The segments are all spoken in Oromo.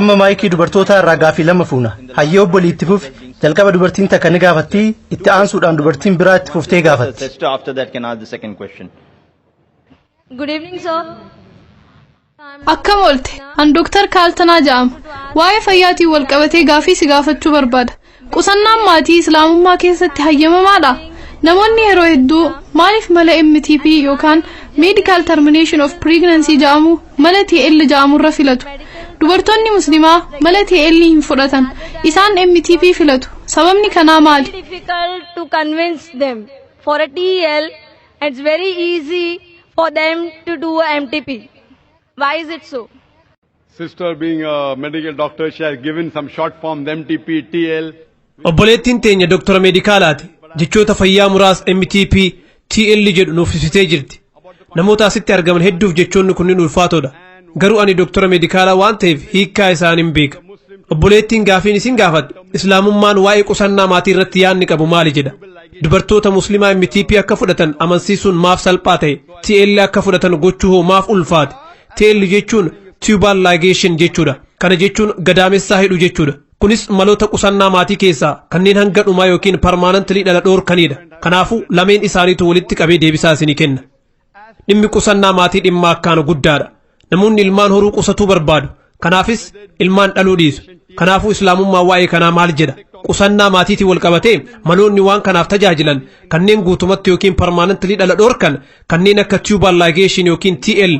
Amma maayikii dubartootaa irraa gaafii lama fuuna. Hayyee obbolii itti fufi. Jalqaba dubartiin takka ni gaafatti, itti aansuudhaan dubartiin biraa itti fuftee gaafatti. Sister after that can ask the second question. Good evening, sir. Akkam oolte? An Dooktar Kaaltanaa ja'ama. Waa'ee fayyaatiin wal qabatee gaafii si gaafachuu barbaada. Qusannaan maatii Islaamummaa keessatti hayyamamaadha? Namoonni yeroo hedduu maaliif mala MTP yookaan Medical Termination of Pregnancy ja'amu mala TL ja'amurra filatu? Dubartoonni Muslimaa mala TL hin fudhatan. Isaan MTP filatu. Sababni kanaa maali? difficult to convince them. For a TL, It's very easy for them to do a MTP. Why is it so? Sister being a medical doctor, she has given some short form MTP, TL. Obboleettiin teenya doktora meedikaalaati. Jechoota fayyaa muraas MTP, TL jedhu nuuf ibsitee jirti. Namoota asitti argaman hedduuf jechoonni kunniin ulfaatoodha. Garuu ani doktora meedikaalaa waan ta'eef hiikkaa isaa nin beeka. Obboleettiin gaafiin isin gaafatte Islaamummaan waa'ee qusannaa maatii irratti yaadni qabu maali jedha. Dubartoota Muslimaa MTP akka fudhatan amansiisuun maaf salphaa ta'e? TL akka fudhatan gochuu hoo maaf ulfaate? TL jechuun tubal ligation jechuudha. Kana jechuun gadaamessaa hidhu jechuudha. Kunis maloota qusannaa maatii keessaa kanneen hanga dhumaa yookiin parmaanantilii dhala dhoorkaniidha. Kanaafuu lameen isaaniitu walitti qabee deebisaa isinii kenna. Dhimmi qusannaa maatii dhimma akkaan guddaadha. Namoonni ilmaan horuu qusatuu barbaadu. Kanaafis ilmaan dhaluu dhiisu. Kanaafuu Islaamummaan waa'ee kanaa maal jedha? Qusannaa maatiitiin wal qabatee maloonni waan kanaaf tajaajilan kanneen guutumatti yookiin parmaanantilii dhala dhorkan kanneen akka tubal ligation yookiin TL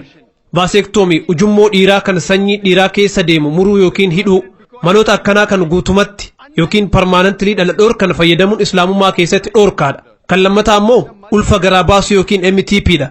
Vaaseektoomii, ujummoo dhiiraa kan sanyii dhiiraa keessa deemu muruu yookiin hidhuu. Maloota akkanaa kan guutumatti yookiin parmaanantilii dhala dhoorkan fayyadamuun islaamummaa keessatti dhoorkaadha. Kan lammataa ammoo ulfa garaa baasuu yookiin MTP dha.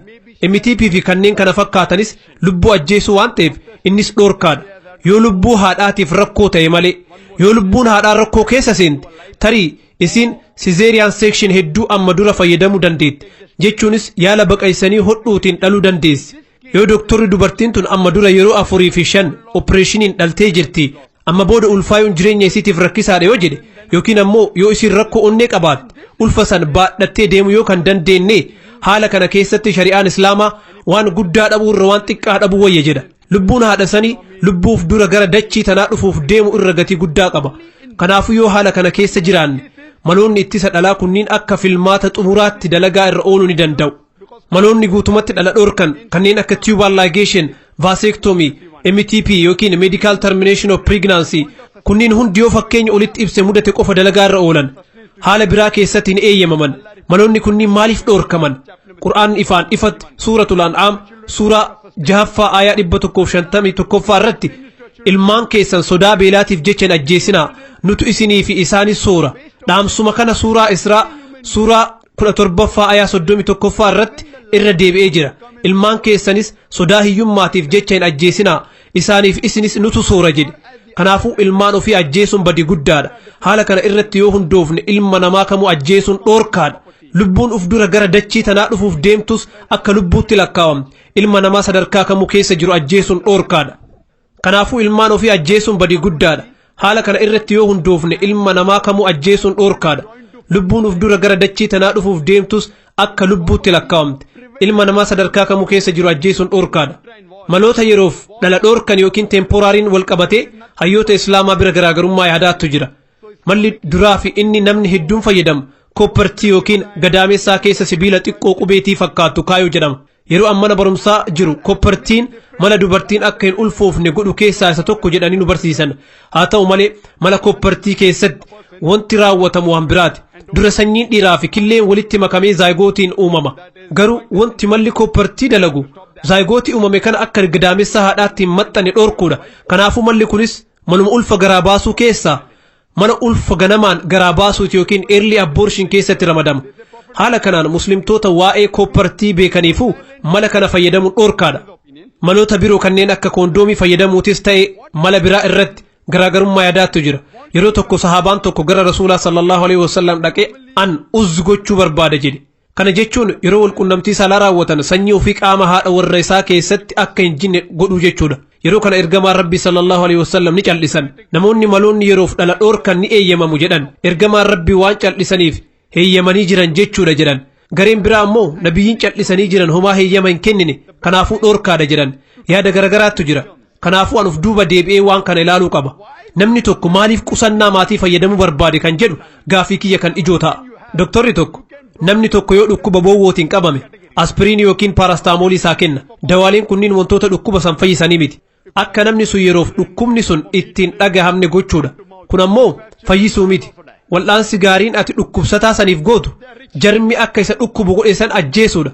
MTP fi kanneen kana fakkaatanis lubbuu ajjeesuu waan ta'eef innis dhoorkaadha. Yoo lubbuu haadhaatiif rakkoo ta'e malee. Yoo lubbuun haadhaa rakkoo keessa seente tarii Isiin sizeeriyaan seekshin hedduu amma dura fayyadamuu dandeetti, jechuunis yaala baqaysanii hodhuutiin dhaluu dandeessi. Yoo doktorri dubartiin tun amma dura yeroo afurii fi shan opireeshiniin dhaltee jirti, amma booda ulfaayuun jireenya isiitiif rakkisaadha yoo jedhe, yookiin ammoo yoo isiin rakkoo onnee qabaatte, ulfa san baadhattee deemuu yoo kan dandeenne, haala kana keessatti shari'aan Islaamaa waan guddaa dhabuu irra waan xiqqaa dhabuu wayya jedha. Lubbuun haadha sanii lubbuuf dura gara dachii tanaa dhufuuf deemu irra gatii guddaa qaba. Kanaafuu yoo haala kana keessa jiraanne maloonni ittisa dhalaa kunniin akka filmaata xumuraatti dalagaa irra ooluu ni danda'u. Maloonni guutumatti dhala dhorkan kanneen akka tubal ligation, vasectomy, MTP yookiin medical termination of pregnancy kunniin hundi yoo fakkeenya olitti ibse mudate qofa dalagaa irra oolan. Haala biraa keessatti hin eeyyamaman. Maloonni kunniin maaliif dhorkaman? Qur'aan ifaan ifatti suuratul an'aam suuraa jahaffaa aayaa dhibba tokkoof shantamii tokkoffaa irratti ilmaan keessan sodaa beelaatiif jecha hin ajjeesinaa nutu isinii fi isaanis soora dhaamsuma kana suuraa israa suuraa kudha torbaffaa aayaa soddomii tokkoffaa irratti irra deebi'ee jira ilmaan keessanis sodaa hiyyummaatiif jecha hin ajjeesinaa isaaniif isinis nutu soora jedhe kanaafuu ilmaan ofii ajjeesuun badi guddaadha haala kana irratti yoo hundoofne ilma namaa kamuu ajjeesuun dhoorkaadha Lubbuun uf dura gara dachii tanaa dhufuuf deemtus akka lubbuutti lakkaawamti. Ilma namaa sadarkaa kamuu keessa jiru ajjeesuun dhoorkaadha. Kanaafuu ilmaan ofii ajjeesuun badii guddaadha. Haala kana irratti yoo hundoofne ilma namaa kamuu ajjeesuun dhoorkaadha. Lubbuun uf dura gara dachii tanaa dhufuuf deemtus akka lubbuutti lakkaawamti. Ilma namaa sadarkaa kamuu keessa jiru ajjeesuun dhoorkaadha. Maloota yeroof dhala dhoorkan yookiin teemporaariin wal qabatee hayyoota Islaamaa bira garaagarummaa yaadaattu jira. Malli duraa fi inni namni hedduun fayyadamu kooppartii yookiin gadaamessaa keessa sibiila xiqqoo qubeetii fakkaatu kaayuu jedhama. Yeroo an mana barumsaa jiru kooppartiin mala dubartiin akka hin ulfoofne godhu keessaa isa tokko jedhanii nu barsiisan. Haa ta'u malee mala kooppartii keessatti wanti raawwatamu waan biraati. Dura sanyiin dhiiraa fi killeen walitti makamee zaayigootiin uumama. Garuu wanti malli kooppartii dalagu zaayigootii uumame kana akka gadaamessaa haadhaatti hin maxxanne dhorkuudha. Kanaafuu malli kunis Manuma ulfa garaa baasuu keessaa mana ulfa ganamaan garaa baasuuti yookiin early abortion keessatti ramadama. Haala kanaan muslimtoota waa'ee kooppartii beekaniifuu mala kana fayyadamuun dhorkaadha. Maloota biroo kanneen akka koondoomii fayyadamuutis ta'e mala biraa irratti garaagarummaa yaadaattu jira. Yeroo tokko sahaabaan tokko gara Rasuulaa sallallahu alaihi wasallam dhaqee an uzzi gochuu barbaada jedhe. Kana jechuun yeroo walqunnamtii saalaa raawwatan sanyii ofii qaama haadha warra isaa keessatti akka hin jinne godhuu jechuudha. Yeroo kana ergamaan Rabbii sallallahu alaihi wasallam ni cal'isan. Namoonni maloonni yeroof dhala dhoorkan ni eeyyamamu jedhan. Ergamaan Rabbii waan cal'isaniif heeyyamanii jiran jechuudha jedhan. Gareen biraa ammoo nabiyyiin cal'isanii jiran homaa heeyyama hin kennine kanaafuu dhoorkaadha jedhan. Yaada garagaraattu jira. Kanaafuu an of duuba deebi'ee waan kana ilaaluu qaba. Namni tokko maaliif qusannaa maatii fayyadamuu barbaade kan jedhu gaaffii kiyya kan ijoo ta'a. Doktorri tokko namni tokko yoo dhukkuba boowwootiin qabame aspiriinii yookiin paarastaamoolii isaa kenna. Dawaaleen kunniin wantoota dhukkuba san fayyisanii miti. Akka namni sun yeroof dhukkubni sun ittiin dhagahamne gochuudha. Kun ammoo fayyisuu miti. Wal'aansi gaariin ati dhukkubsataa saniif gootu jarmi akka isa dhukkubu godhe san ajjeesuudha.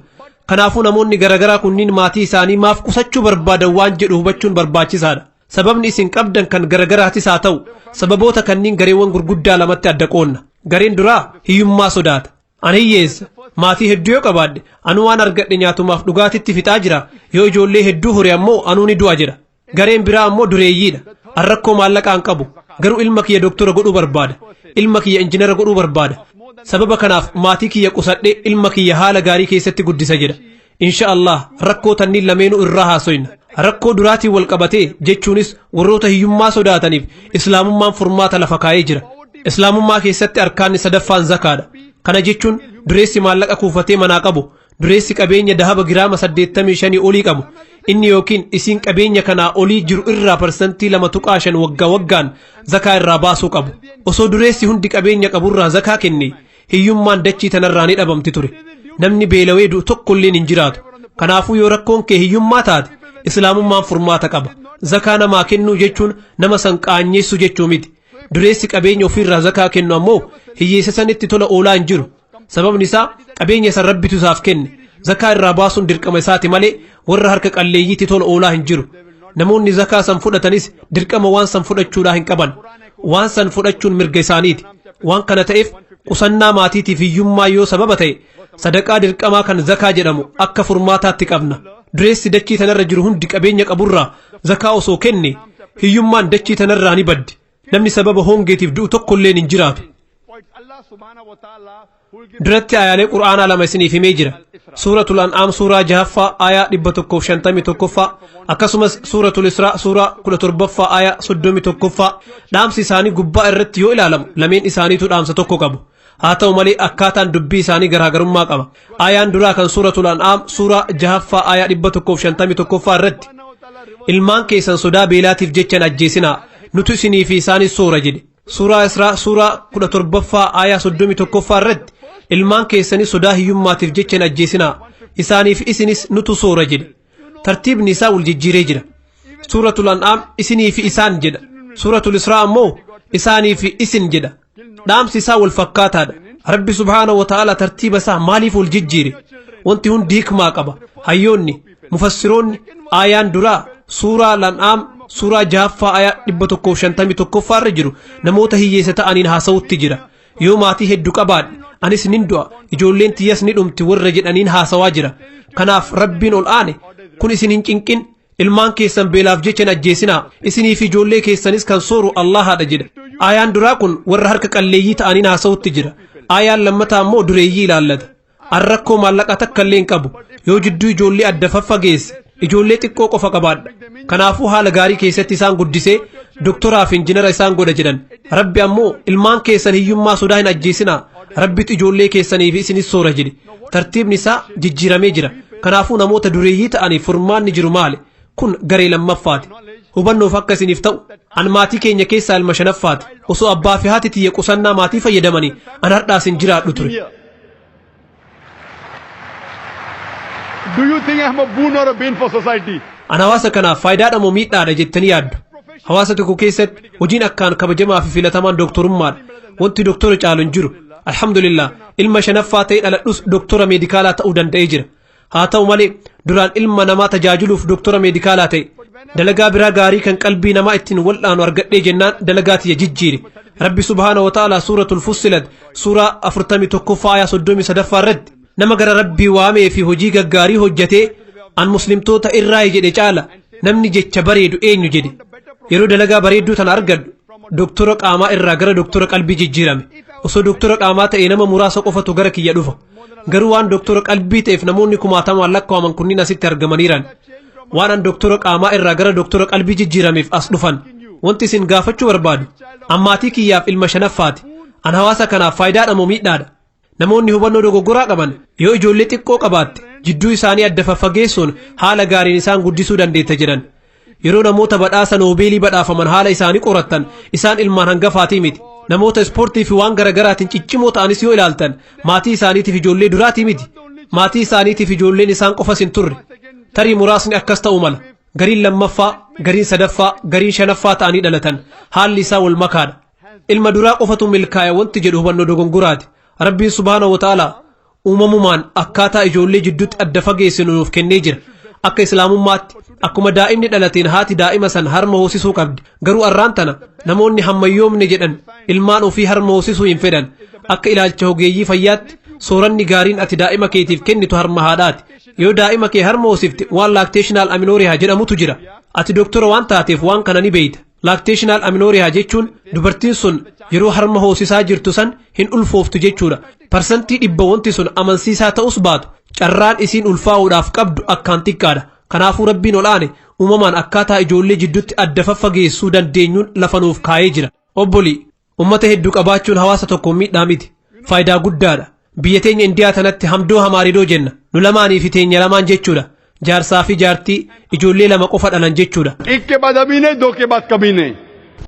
Kanaafuu namoonni garagaraa kunniin maatii isaanii maaf qusachuu barbaadan waan jedhu hubachuun barbaachisaadha. Sababni isin qabdan kan garagaraatis haa ta'u, sababoota kanniin gareewwan gurguddaa lamatti adda qoonna. Gareen duraa hiyyummaa sodaata. Ani hiyyeessa. Maatii hedduu yoo qabaadhe, anu waan argadhe nyaatumaaf dhugaatitti fixaa jira. Yoo ijoollee hedduu hore ammoo anuu ni du'a jedha. Gareen biraa ammoo dureeyyiidha. An rakkoo maallaqaan qabu. Garuu ilma kiyya doktora godhuu barbaada. Ilma kiyya injinara godhuu barbaada. Sababa kanaaf maatii kiyya qusadhee ilma kiyya haala gaarii keessatti guddisa jedha. Insha Allah rakkoo tanniin lameenuu irraa haasoyna. Rakkoo duraatiin wal qabatee jechuunis warroota hiyyummaa sodaataniif islaamummaan furmaata lafa kaa'ee jira. Islaamummaa keessatti arkaanni sadaffaan zakaadha. Kana jechuun dureessi maallaqa kuufatee manaa qabu Dureessi qabeenya dahaba giraama 85 olii qabu inni yookiin isiin qabeenya kanaa olii jiru irraa parsantii 2.5 waggaa waggaan zakaa irraa baasuu qabu. Osoo dureessi hundi qabeenya qaburraa zakaa kenne hiyyummaan dachii tanarraa ni dhabamti ture. Namni beelawee du'u tokkolleen hin jiraatu. Kanaafuu yoo rakkoon kee hiyyummaa taate islaamummaan furmaata qaba. Zakaa namaa kennuu jechuun nama san qaanyeessu jechuu miti. Dureessi qabeenya ofiirraa zakaa kennu ammoo hiyyeessa sanitti tola oolaa hin jiru. Sababni isaa qabeenya san rabbitu isaaf kenne zakaa irraa baasuun dirqama isaati malee warra harka qalleeyyiitti tola oolaa hin jiru. Namoonni zakaa san fudhatanis dirqama waan san fudhachuudhaa hin qaban. Waan san fudhachuun mirga isaaniiti. Waan kana ta'eef qusannaa maatiitiif hiyyummaa yoo sababa ta'e sadaqaa dirqamaa kan zakaa jedhamu akka furmaataatti qabna. Dureessi dachii tanarra jiru hundi qabeenya qaburraa zakaa osoo kenne hiyyummaan dachii tanarraa ni baddi. Namni sababa hongeetiif du'u tokkolleen hin jiraatu. Duratti ayaalee Qur'aanaa lama isiniif himee jira. Suuratul An'aam suuraa jahaffaa aayaa dhibba tokkoof shantamii tokkoffaa akkasumas suuratul Israa suuraa kudha torbaffaa aayaa soddomii tokkoffaa dhaamsi isaanii gubbaa irratti yoo ilaalamu lameen isaaniitu dhaamsa tokko qabu. haa ta'u malee akkaataan dubbii isaanii garaagarummaa qaba aayaan duraa kan suuratul an'aam suuraa jahaffaa aayaa dhibba tokkoof shantamii tokkoffaa irratti ilmaan keessan sodaa beelaatiif jechan ajjeesinaa nutu isinii fi isaanis soora jedhe suuraa israa suuraa kudha torbaffaa aayaa soddomii tokkoffaa irratti ilmaan keessanii sodaa hiyyummaatiif jechan ajjeesinaa isaaniif isinis nutu soora jedhe tartiibni isaa wal jijjiiree jira suuratul an'aam isinii fi isaan jedha suuratul israa ammoo isaanii fi isin jedha dhaamsi isaa wal fakkaataadha rabbi subhaana wa ta'ala tartiiba isaa maaliif wal jijjiire wanti hundi hikmaa qaba hayyoonni mufassiroonni aayaan duraa suuraa lan'aam suuraa jahaffaa ayaa dhibba tokkoof shantamii tokkoffaa irra jiru namoota hiyyeessa ta'aniin haasa'utti jira Yoo maatii heddu qabaadhe anis nin du'a ijoolleen tiyyas ni dhumti warra jedhaniin haasawaa jira. Kanaaf Rabbiin ol aane kun isin hin cinqin ilmaan keessan beelaaf jecha hin ajjeesinaa isinii fi ijoollee keessanis kan sooru Allahaadha jedha. Aayaan duraa kun warra harka qalleeyyii ta'aniin haasawutti jira. Aayaan lammataa immoo dureeyyii ilaallata. An rakkoo maallaqaa takka illee hin qabu. Yoo jidduu ijoollee adda faffageesse ijoollee xiqqoo qofa qabaadha. Kanaafuu haala gaarii keessatti isaan guddisee doktoraa fi injinara isaan godha jedhan. Rabbi ammoo ilmaan keessan hiyyummaa sodaa hin ajjeesinaa. Rabbitu ijoollee keessanii fi isinis soora jedhe. Tartiibni isaa jijjiiramee jira. Kanaafuu namoota dureeyyii ta'aniif furmaanni jiru maali? Kun garee lammaffaati. Hubannoof akka isiniif ta'u an maatii keenya keessaa ilma shanaffaati. Osoo abbaa fi haati tiyya qusannaa maatii fayyadamanii an hardhaas hin jiraadhu ture. Do you think I'm a boon or a bane for society? An hawaasa kanaaf faayidaadha moo miidhaadha jettanii yaaddu? Hawaasa tokko keessatti hojiin akkaan kabajamaa fi filatamaan dooktorummaadha. Wanti dooktora caalu hin jiru. Alhamdulillah ilma shanaffaa ta'ee dhaladhus dooktora meedikaalaa ta'uu danda'ee jira. Haa ta'u malee duraan ilma namaa tajaajiluuf doktora meedikaalaa ta'e. Dalagaa biraa gaarii kan qalbii namaa ittiin wal'aanu argadhee jennaan dalagaa tiyya jijjiire. Rabbi subhaana wa ta'ala suuratul fussilat suuraa 41ffaa ayaa 33ffaa irratti nama gara rabbii waamee fi hojii gaggaarii hojjatee an muslimtoota irraayi jedhe caala namni jecha bareedu eenyu jedhe. Yeroo dalagaa bareedduu tana argadhu doktora qaamaa irraa gara doktora qalbii jijjiirame. Osoo doktora qaamaa ta'e nama muraasa qofatu gara kiyya dhufa. Garuu waan doktora qalbii ta'eef namoonni kumaatamaan lakkaa'aman kunniin asitti argamaniiran. Waan an doktora qaamaa irraa gara doktora qalbii jijjiirameef as dhufan. Wanti isin gaafachuu barbaadu, an maatii kiyyaaf ilma shanaffaati. An hawaasa kanaaf faayidaadha moo miidhaadha? Namoonni hubannoo dogoggoraa qaban yoo ijoollee xiqqoo qabaatte jidduu isaanii adda faffageessuun haala gaariin isaan guddisuu dandeetta jedhan. Yeroo namoota badhaasa noobeelii badhaafaman haala isaanii qorattan isaan ilmaan hangafaatii miti. Namoota ispoortii fi waan garagaraatiin ciccimoo ta'anis yoo ilaaltan maatii isaaniitiif ijoollee duraatii miti. Maatii isaaniitiif ijoolleen isaan qofas hin turre. Tarii muraasni akkas ta'uu mala. Gariin lammaffaa, gariin sadaffaa, gariin shanaffaa ta'anii dhalatan. Haalli isaa wal makaadha. Ilma duraa qofatu milkaa'e wanti jedhu hubannoo dogongoraati. Rabbiin subhaanahu wa ta'aalaa uumamumaan akkaataa ijoollee jidduutti adda fageessinu nuuf kennee jira. Akka Islaamummaatti akkuma daa'imni dhalateen haati daa'ima san harma hoosisuu qabdi. Garuu arraan tana namoonni hammayyoomne jedhan ilmaan ofii harma hoosisuu hin fedhan. Akka ilaalcha hogeeyyii fayyaatti sooranni gaariin ati daa'ima keetiif kennitu harma haadhaati. Yoo daa'ima kee harma hoosifte waan laakteeshinaal aminoorehaa jedhamutu jira. Ati doktora waan taateef waan kana ni beeyta. Laakteeshinaal aminooriyaa jechuun dubartiin sun yeroo harma hoosisaa jirtu san hin ulfooftu jechuudha. Parsantii dhibba wanti sun amansiisaa ta'us baatu carraan isiin ulfaa'uudhaaf qabdu akkaan xiqqaadha. Kanaafuu Rabbiin ol aane uumamaan akkaataa ijoollee jiddutti adda faffageessuu dandeenyuun lafa nuuf kaayee jira. Obbolii! Ummata heddu qabaachuun hawaasa tokkoon miidhaa miti. Faayidaa guddaadha. Biyya teenya Indiyaa tanatti hamdoo hamaaridoo jenna. Nu lamaanii fi teenya lamaan jechuudha. Jaarsaa fi jaartii ijoollee lama qofa dhalan jechuudha. Ikke badamine doke bakkamine.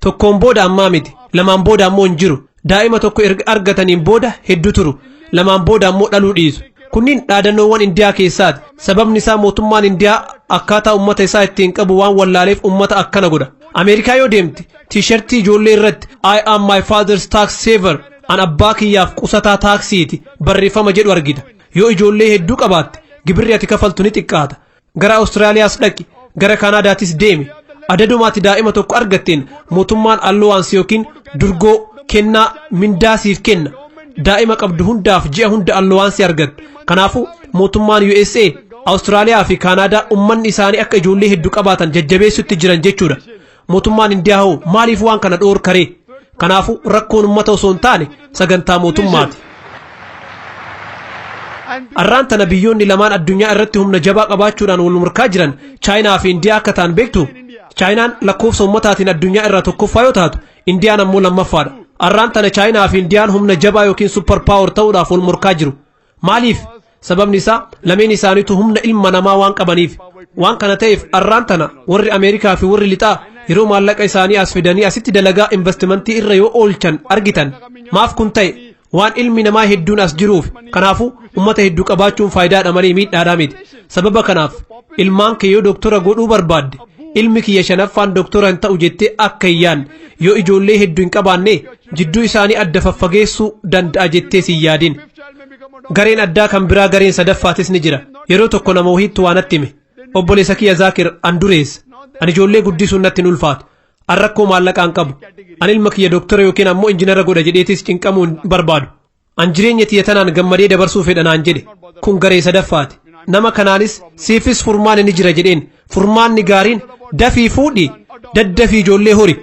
Tokkoon booda ammaa miti. Lamaan booda ammoo hin jiru. Daa'ima tokko erga argataniin booda heddu turu. Lamaan booda ammoo dhaluu dhiisu. Kunniin dhaadannoowwan Indiyaa keessaati. Sababni isaa mootummaan Indiyaa akkaataa ummata isaa ittiin qabu waan wallaaleef ummata akkana godha. Ameerikaa yoo deemte Tiishartii ijoollee irratti I am my father's tax saver an abbaa kiyyaaf qusataa taaksiiti barreeffama jedhu argita. Yoo ijoollee hedduu qabaatte gibirri ati kafaltu ni xiqqaata. Gara Awustiraaliyaas dhaqi, gara Kaanaadaatis deemi. Adaduma ati daa'ima tokko argatteen mootummaan allowance yookiin durgoo, kennaa, mindaa siif kenna. Daa'ima qabdu hundaaf ji'a hunda allowance argatta. Kanaafuu mootummaan USA, Awustiraaliyaa fi Kaanaadaa ummanni isaanii akka ijoollee heddu qabaatan jajjabeessutti jiran jechuudha. Mootummaan Indiyaa hoo maaliif waan kana dhoorkaree? Kanaafuu rakkoon ummata osoo hin taane sagantaa mootummaati. Arraan tana biyyoonni lamaan addunyaa irratti humna jabaa qabaachuudhaan wal morkaa jiran Chaayinaa fi Indiyaa akka ta'an beektu. Chaayinaan lakkoofsa ummataatiin addunyaa irraa tokkoffaa yoo taatu, Indiyaan ammoo lammaffaadha. Arraan tana Chaayinaa fi Indiyaan humna jabaa yookiin supper power ta'uudhaaf wal morkaa jiru. Maaliif? Sababni isaa lameen isaaniitu humna ilma namaa waan qabaniif. Waan kana ta'eef arraan tana warri Ameerikaa fi warri lixaa yeroo maallaqa isaanii as fidanii asitti dalagaa investimentii irra yoo oolchan argitan. Maaf kun ta'e? Waan ilmi namaa hedduun as jiruuf kanaafuu ummata hedduu qabaachuun faayidaadha malee miidhaadhaa miti. Sababa kanaaf ilmaan kee yoo doktora godhuu barbaadde ilmi kiyya shanaffaan doktora hin ta'u jettee akka hin yaadne yoo ijoollee hedduu hin qabaanne jidduu isaanii adda faffageessuu danda'a jettee si hin yaadin. Gareen addaa kan biraa gareen sadaffaatis ni jira. Yeroo tokko nama wahiittu waa natti hime. Obboleessa kiyya Zaakir an dureessa. Ani ijoollee guddisuun natti hin ulfaatu. An rakkoo maallaqaa hin qabu. An ilma kiyya doktora yookiin ammoo injinara godha jedheetis cinqamuu hin barbaadu. An jireenya tiyya tanaan gammadee dabarsuu fedha naan jedhe. Kun garee sadaffaati. Nama kanaanis siifis furmaanni ni jira jedheen. Furmaanni gaariin dafii fuudhi daddafii ijoollee hori.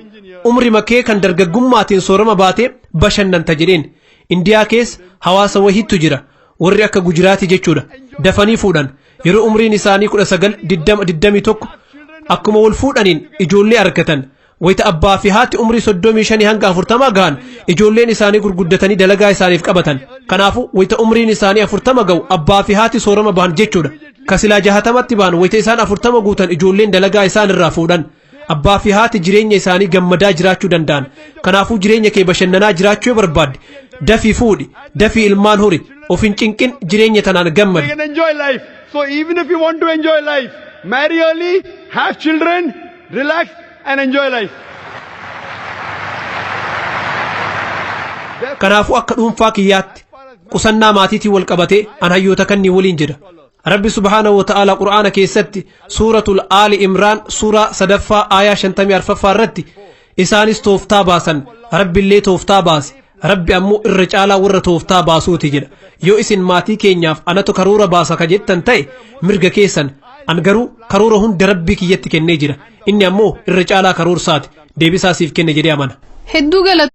Umrima kee kan dargaggummaatiin soorama baatee bashannanta jedheen. Indiyaa keessa hawaasa wahiittu jira. Warri akka Gujiraati jechuudha. Dafanii fuudhan. Yeroo umriin isaanii 19, 20, 21 akkuma wal fuudhaniin ijoollee argatan. Wayita abbaa fi haati umrii 35 hanga 40 gahan ijoolleen isaanii gurguddatanii dalagaa isaaniif qabatan. Kanaafuu wayita umriin isaanii 40 gahu abbaa fi haati soorama bahan jechuudha. Kasilaa jahatamatti bahan wayita isaan 40 guutan ijoolleen dalagaa isaan irraa fuudhan. Abbaa fi haati jireenya isaanii gammadaa jiraachuu danda'an. Kanaafuu jireenya kee bashannanaa jiraachuu yoo barbaadde dafii fuudhi, dafii ilmaan hori, of hin cinqin jireenya tanaan You gammadi. can enjoy life. So even if you want to enjoy life, marry early, have children, relax and enjoy life. Kanaafuu akka dhuunfaa kiyyaatti qusannaa maatiitiin wal qabatee an hayyoota kanneen waliin jedha. Rabbi subhaanahu wa ta'aala Qur'aana keessatti suuratul Aali Imraan suuraa sadaffaa aayaa shantamii arfaffaa irratti isaanis tooftaa baasan Rabbillee tooftaa baase Rabbi ammoo irra caalaa warra tooftaa baasuuti jedha yoo isin maatii keenyaaf anatu karoora baasa ka jettan ta'e mirga keessan an garuu karoora hunda Rabbii kiyyatti kennee jira inni ammoo irra caalaa karoorsaati deebisaa siif kenne jedhee amana. Hedduu galata.